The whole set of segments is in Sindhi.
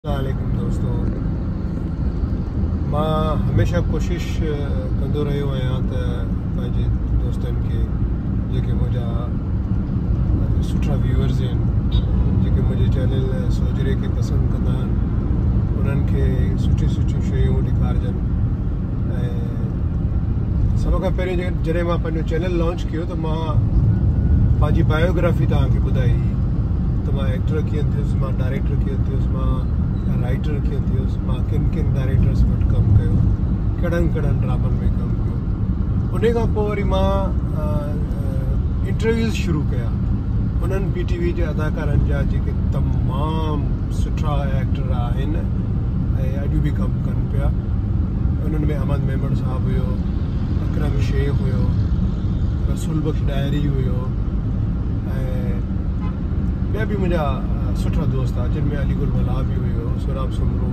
السلام عليڪم دوستو مان هميشه ڪوشش ڪندو رهيو آهيان ته پنهنجي دوستن کي جيڪي منهنجا سٺا ويورز آهن جيڪي منهنجي چينل سوجري کي پسند ڪندا آهن انهن کي سٺي سٺيون شيون ڏيکارجن ۽ سڀ کان پهريون جڏهن مان پنهنجو چينل لانچ ڪيو ته مان پنهنجي بايوگرافي توهان کي ٻڌائي هئي ته مان ايڪٽر ڪيئن ٿيس مان ڊائريڪٽر ڪيئن ٿيس مان رائٽر ڪيئن ٿيس مان ڪن ڪن ڊائريڪٽرس وٽ ڪم ڪيو ڪهڙن ڪهڙن ڊرامن ۾ ڪم ڪيو ان کان پوء وري مان انٽرويوز شروع ڪيا انهن پي ٽي وي جي اداڪارن جا جيڪي تمام سٺا ايڪٽر آهن ۽ اڄ به ڪم ڪن پيا انهن ۾ احمد ميمڻ صاحب صاحب هيو، اڪرم شيخ هيو، رسول بخش ڏاهري هيو ۽ ٻيا به منهنجا سٺا دوست هئا جن ۾ علي گل ملاح به هيو، سهراب سومرو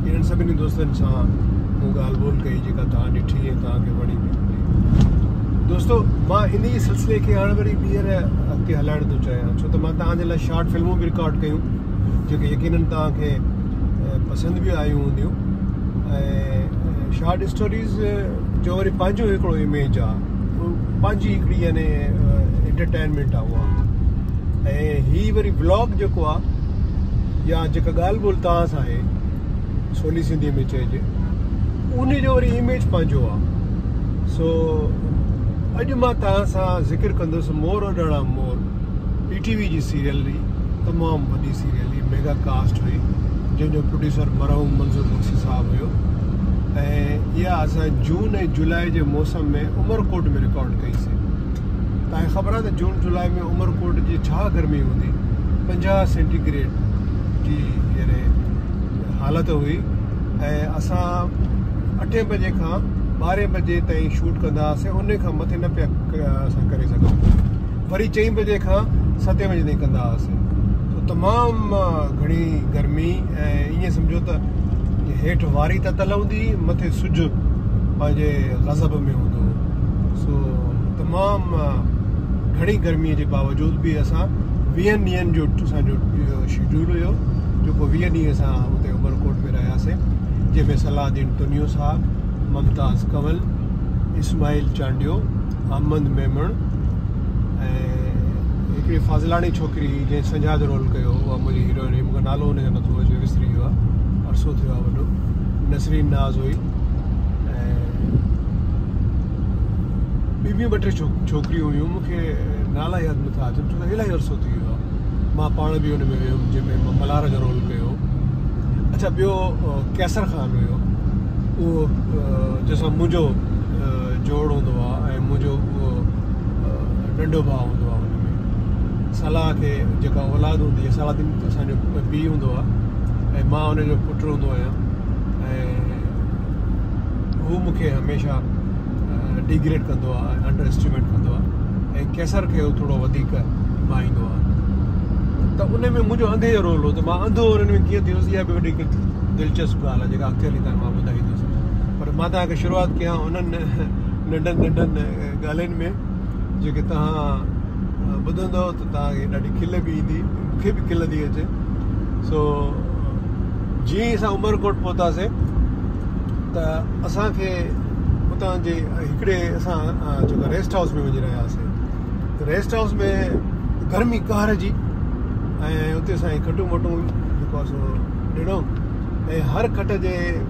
انهن سڀني دوستن سان مون ڳالهه ٻولهه ڪئي جيڪا توهان ڏٺي ۽ توهان کي وڻي به هوندي. دوستو مان انهي سلسلي کي هاڻ وري ٻيهر اڳتي هلائڻ ٿو چاهيان ڇو ته مان توهان جي لاء شارٽ فلمون به رڪارڊ ڪيون جيڪي يقينن توهان کي پسند به آيون هونديون ۽ شارٽ اسٽوريز جو وري پنهنجو هڪڙو اميج آ پنهنجي هڪڙي يعني انٽرٽينمينٽ آ اها ۽ هي وري بلاگ جيڪو آ يا جيڪا ڳالهه ٻولهه توهان سان آهي سولي سنڌي ۾ چئجي ان جو وري اميج پنهنجو آ سو اڄ مان توهان سان ذڪر ڪندس Mor Udaana Mor P T V جي سيريل تمام وڏي سيريل هئي ميگا ڪاسٽ هئي جنهن جو پروڊيوسر مرحوم منظور بخشي صاحب هيو ۽ اها اسان جون ۽ جولاء جي موسم ۾ عمرڪوٽ ۾ رڪارڊ ڪئي سي تاکي خبر آهي ته جون جولاء ۾ عمرڪوٽ جي ڇا گرمي هوندي پنجاهه سينٽيگريڊ جي يعني حالت هئي ۽ اسان اٺين بجي کان ٻارهين بجي تائين شوٽ ڪندا هئاسين ان کان مٿي نه پيا اسان ڪري سگهون وري چئين بجي کان ستين بجي تائين ڪندا هئاسين سو تمام گهڻي گرمي ۽ ائين سمجهو ته هيٺ واري تتل هوندي هئي مٿي سج پنهنجي غضب ۾ هوندو هو سو تمام گهڻي گرمي جي باوجود به اسان ويهن ڏينهن جو اسان جو شيڊيول هيو جيڪو ويهه ڏينهن اسان اتي عمرڪوٽ ۾ رهياسين جنهن ۾ صلاح الدين تنيو صاحب ممتاز ڪنول اسماعيل چانڊيو احمد ميمڻ ۽ هڪڙي فاضلاڻي ڇوڪري هئي جنهن سنجاد رول ڪيو هو اها منهنجي هيروئن هئي مونکي نالو هن جو نٿو اچي وسري ويو آهي عرصو ٿيو آهي وڏو نسرين ناز هئي ۽ ٻي بي ٻه ٽي ڇوڪريون هيون مونکي نالا ياد نٿا اچن ڇو ته الاهي عرصو ٿي ويو آهي مان پاڻ به هن ۾ ويم جنهن ۾ مان ملهار جو رول ڪيو اڇا ٻيو قيصر خان هيو اهو جنهن سان منهنجو جوڙ هوندو آ ۽ منهنجو اهو ننڍو ڀاء هوندو آ ان ۾ صلاح کي جيڪا اولاد هوندي آ صلاح الدين اسان جو پيء هوندو آ ۽ مان ان جو پٽ هوندو آهيان ۽ هو مون کي هميشه ڊيگريڊ ڪندو آ ۽ انڊر اسٽيميٽ ڪندو آ ۽ قيصر کي هو ٿورو وڌيڪ ڀائيندو آ ته ان ۾ منهنجو انڌي جو رول هو ته مان انڌو انهن ۾ ڪيئن ٿيس اها به وڏي دلچسپ ڳالهه آ جيڪا اڳتي هلي تان مان ٻڌائيندس پر مان توهان کي شروعات ڪيان انهن ننڍن ننڍن ڳالهين ۾ جيڪي توهان ٻڌندؤ ته توهان کي ڏاڍي کل به ايندي مون کي به کل ٿي اچي سو جي اسان عمرڪوٽ پهتاسين ته اسان کي اتان جي هڪڙي اسان جيڪو ريسٽ هائوس ۾ وڃي رهيا هئاسين ريسٽ هائوس ۾ گرمي قهر جي ۽ اتي اسان کي کٽون وٽون جيڪو سو ڏنو ۽ هر کٽ جي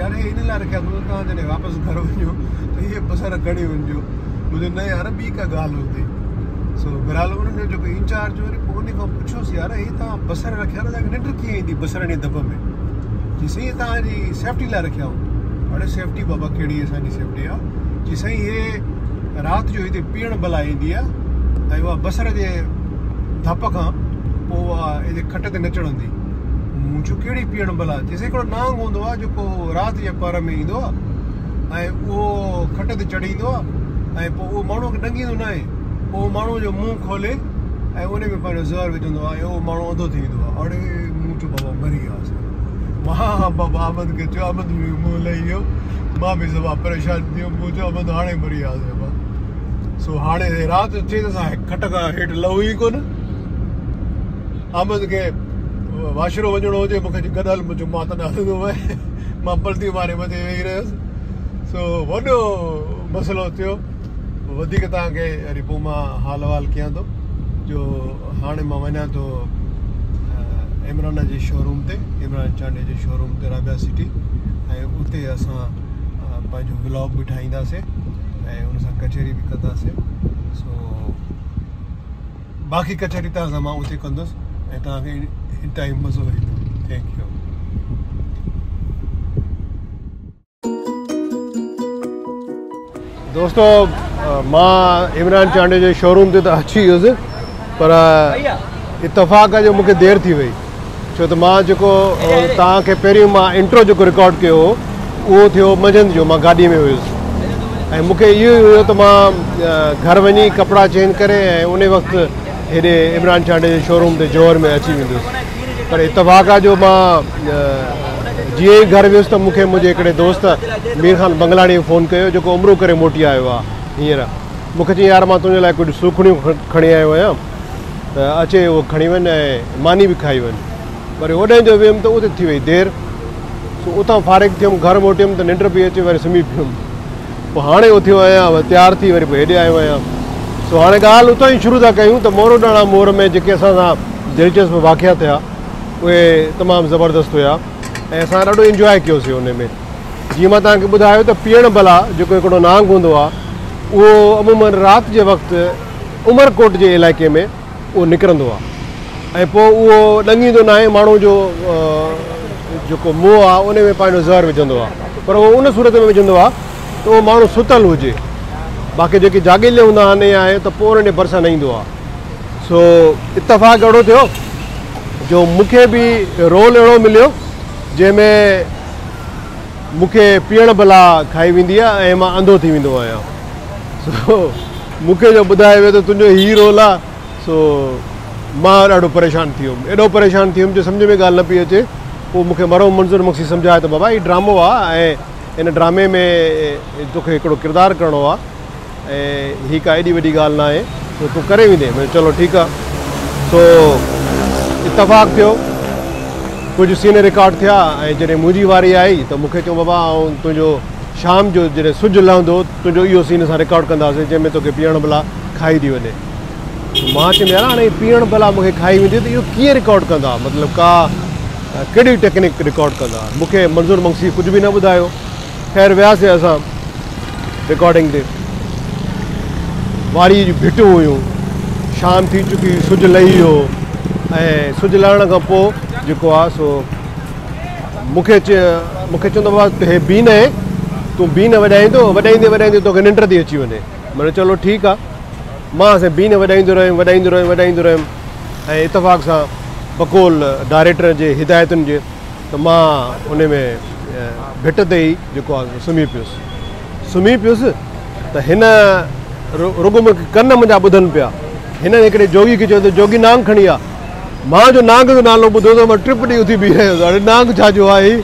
يار هي ان لاء رکيا اٿم جو توهان جڏهن واپس گهر وڃو ته اهي بصر کڻي وڃجو مون چيو نه يار ٻي ڪا ڳالهه هوندي سو بهرحال انهن جو جيڪو انچارج هو وري پوء ان کان پڇيوس يار هي توهان بصر رکيا ته تنهنکي ننڊ ڪيئن ايندي بصرن جي دٻ ۾ چي سائين توهان جي سيفٽي لاء رکيا اهو اڙي سيفٽي بابا ڪهڙي اسان جي سيفٽي آ چي سائين هي رات جو هتي پيئڻ بلا ايندي آ ۽ اها بصر جي ڌپ کان پوء اها هتي کٽ تي نه چڙهندي مون چيو ڪهڙي پيئڻ بلا هڪڙو نانگ هوندو آهي جيڪو رات جي پهر ۾ ايندو آهي ۽ اهو کٽ تي چڙهي ايندو آهي ۽ پوء اهو ماڻهوء کي ڏنگيندو ناهي پوء اهو ماڻهوء جو منهن کولي ۽ ان ۾ پنهنجو زهر وجهندو آهي ۽ اهو ماڻهو انڌو ٿي ويندو آهي اڙي مون چيو بابا مري وياسي مان بابا احمد کي چيو احمد به منهن لهي ويو مان به سبا پريشان ٿي ويم مون چيو احمد هاڻي مري وياسي بابا سو هاڻي رات ٿي ته اسان کٽ کان هيٺ لهون ئي ڪونه احمد کي واشرو وڃڻو هجي مون کي گڏ هل منهنجو مات نه هلندو مئي مان پلٽي ماري مٿي ويهي رهيس سو وڏو مسئلو ٿيو وڌيڪ توهان کي وري پوء مان حال احوال ڪيان ٿو جو هاڻي مان وڃان ٿو عمران جي شوروم تي عمران چانڊي جي شوروم تي رابيا سٽي ۽ اتي اسان پنهنجو ولاگ به ٺاهينداسين ۽ ان سان ڪچهري به ڪنداسين سو باقي ڪچهري توهان سان مان اتي ڪندس ۽ توهان کي انتهائي مزو ايندو ٿينڪ يو. دوستو مان عمران چانڊيو جي شوروم تي ته اچي ويس پر اتفاق جو مونکي دير ٿي وئي ڇو ته مان جيڪو توهان کي پهريون مان انٽرو جيڪو رڪارڊ ڪيو هو اهو ٿيو منجهند جو مان گاڏي ۾ هيس ۽ مون کي اهو ئي هيو ته مان گهر وڃي ڪپڙا چينج ڪري ۽ ان وقت هيڏي عمران چانڊيو جي شوروم تي جوهر ۾ اچي ويندس پر اتفاق آهي جو مان جيئن ئي گهر ويس ته مون کي منهنجي هڪڙي دوست مير خان بنگلاڻي فون ڪيو جيڪو عمرو ڪري موٽي آيو آهي هينئر مون کي چيائين يار مان تنهنجي لاء ڪجهه سوکڙيون کڻي آيو آهيان ته اچي اهو کڻي وڃ ۽ ماني به کائي وڃ. وري اوڏانهن جو ويم ته اتي ٿي وئي دير، سو اتان فارغ ٿيم، گهر موٽيم ته ننڊ پئي اچي، وري سمهي پيم. پوء هاڻي اٿيو آهيان، وري تيار ٿي وري پوء هيڏي آيو آهيان. سو هاڻي ڳالهه اتان ئي شروع ٿا ڪيون ته موروڏاڻا مور ۾ جيڪي اسان سان دلچسپ واقعا ٿيا، اهي تمام زبردست هيا ۽ اسان ڏاڍو انجواء ڪيوسي انهي ۾. جيئن مان توهان کي ٻڌايو ته پيڻ بلا جيڪو هڪڙو نانگ هوندو آهي، اهو عموماً رات جي وقت، عمرڪوٽ جي علائقي ۾ اهو نڪرندو آهي ۽ پوء اهو ڏنگيندو ناهي ماڻهو جو جيڪو موء آهي ان ۾ پنهنجو زهر وجهندو آهي پر اهو ان صورت ۾ وجهندو آهي ته اهو ماڻهو ستل هجي باقي جيڪي جاڳيلي هوندا آهن يا آهي ته پوء انهن جي ڀرسان نه ايندو آهي سو اتفاق اهڙو ٿيو جو مون کي به رول اهڙو مليو جنهن ۾ مون کي پيئڻ بلا کائي ويندي آهي ۽ مان انڌو ٿي ويندو آهيان سو مون کي جو ٻڌايو ويو ته تنهنجو هي رول آ سو مان ڏاڍو پريشان ٿي ويم. ايڏو پريشان ٿي ويم جو سمجهه ۾ ڳالهه نه پئي اچي. پوء مون کي مرحوم منظور مگسي سمجهايو ته بابا هي ڊرامو آ ۽ ان ڊرامي ۾ توکي هڪڙو ڪردار ڪرڻو آ ۽ هي ڪا ايڏي وڏي ڳالهه ناهي سو تون ڪري ويندين. مون چيو چلو ٺيڪ آ. سو اتفاق ٿيو ڪجهه سين رڪارڊ ٿيا ۽ جڏهن منهنجي واري آئي ته مون کي چيائون بابا آئون تنهنجو شام جو جڏهن سج لهندو تنهنجو اهو سين اسان رڪارڊ ڪنداسين جنهن ۾ توکي پيئڻ بلا کائي ٿي وڃي. مان چيم يار هاڻي هي پيئڻ بلا مون کي کائي ويندي ته اهو ڪيئن رڪارڊ ڪندا مطلب ڪا ڪهڙي ٽيڪنڪ رڪارڊ ڪندا مون کي منظور منگسي ڪجهه به نه ٻڌايو خير وياسين اسان رڪارڊنگ تي واريء جون ڀٽون هيون شام ٿي چڪي هئي سج لهي ويو هو ۽ سج لهڻ کان پوء جيڪو آ سو مون کي چون ته بابا هي بي نه هي تون بي نه وڄائيندو وڄائيندي وڄائيندي توکي ننڊ ٿي اچي وڃي مڙي چلو ٺيڪ آ مان سين بي نه وڄائيندو رهيم وڄائيندو رهيم وڄائيندو رهيم ۽ اتفاق سان بقول ڊائريڪٽر جي هدايتن جي ته مان ان ۾ ڀٽ تي ئي جيڪو آ سمهي پيس سمهي پيس ته هن رڳو مون کي ڪن منهنجا ٻڌن پيا هن هڪڙي جوڳي کي چيو ته جوڳي نانگ کڻي آ مان جو نانگ جو نالو ٻڌو ته مان ٽپ ڏئي اٿي بيهي رهيس اڙي نانگ ڇا جو آهي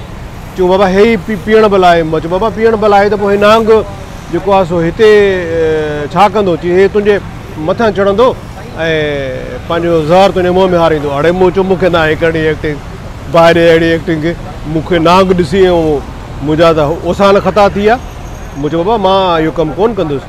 چيو بابا هي ئي پيئڻ بلا آهي مان چيو بابا پيئڻ بلا آهي ته پوء هي نانگ جيڪو آهي سو هتي ڇا ڪندو چي هي تنهنجي مٿان چڙهندو ۽ پنهنجو زهر تنهنجي منهن ۾ هاريندو اڙي مون چيو مونکي ناهي ڪرڻي ايڪٽنگ باهه ڏي اهڙي ايڪٽنگ کي مونکي نانگ ڏسي منهنجا ته اوسان خطا ٿي ويا مون چيو بابا مان اهو ڪم ڪونه ڪندس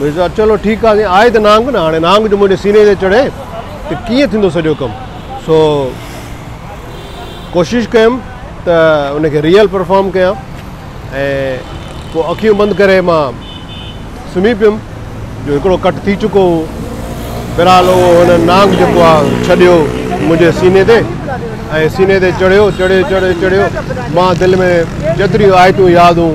ميرزا، چلو ٺيڪ آ، جي آهي ته نانگ نه، هاڻي نانگ جو منهنجي سيني تي چڙهي ته ڪيئن ٿيندو سڄو ڪم، سو ڪوشش ڪيم ته ان کي ريئل پرفارم ڪيان ۽ پوء اکيون بند ڪري مان سمهي پيم جو هڪڙو ڪٽ ٿي چڪو هو، بهرحال اهو هن نانگ جيڪو آ ڇڏيو منهنجي سيني تي ۽ سيني تي چڙهيو، چڙهيو چڙهيو چڙهيو، مان دل ۾ جيتريون آيتون ياد هون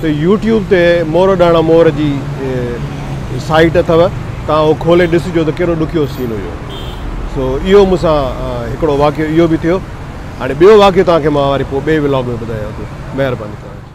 ته يوٽيوب تي مور ڏاڻا مور جي سائيٽ اٿو توهان اهو کولي ڏسجو ته ڪهڙو ڏکيو سين هيو سو اهو مون سان هڪڙو واقعو اهو به ٿيو هاڻي ٻيو واقعو توهان کي مان وري پوء ٻئي ولاگ ۾ ٻڌايان ٿو مهرباني توهان جي.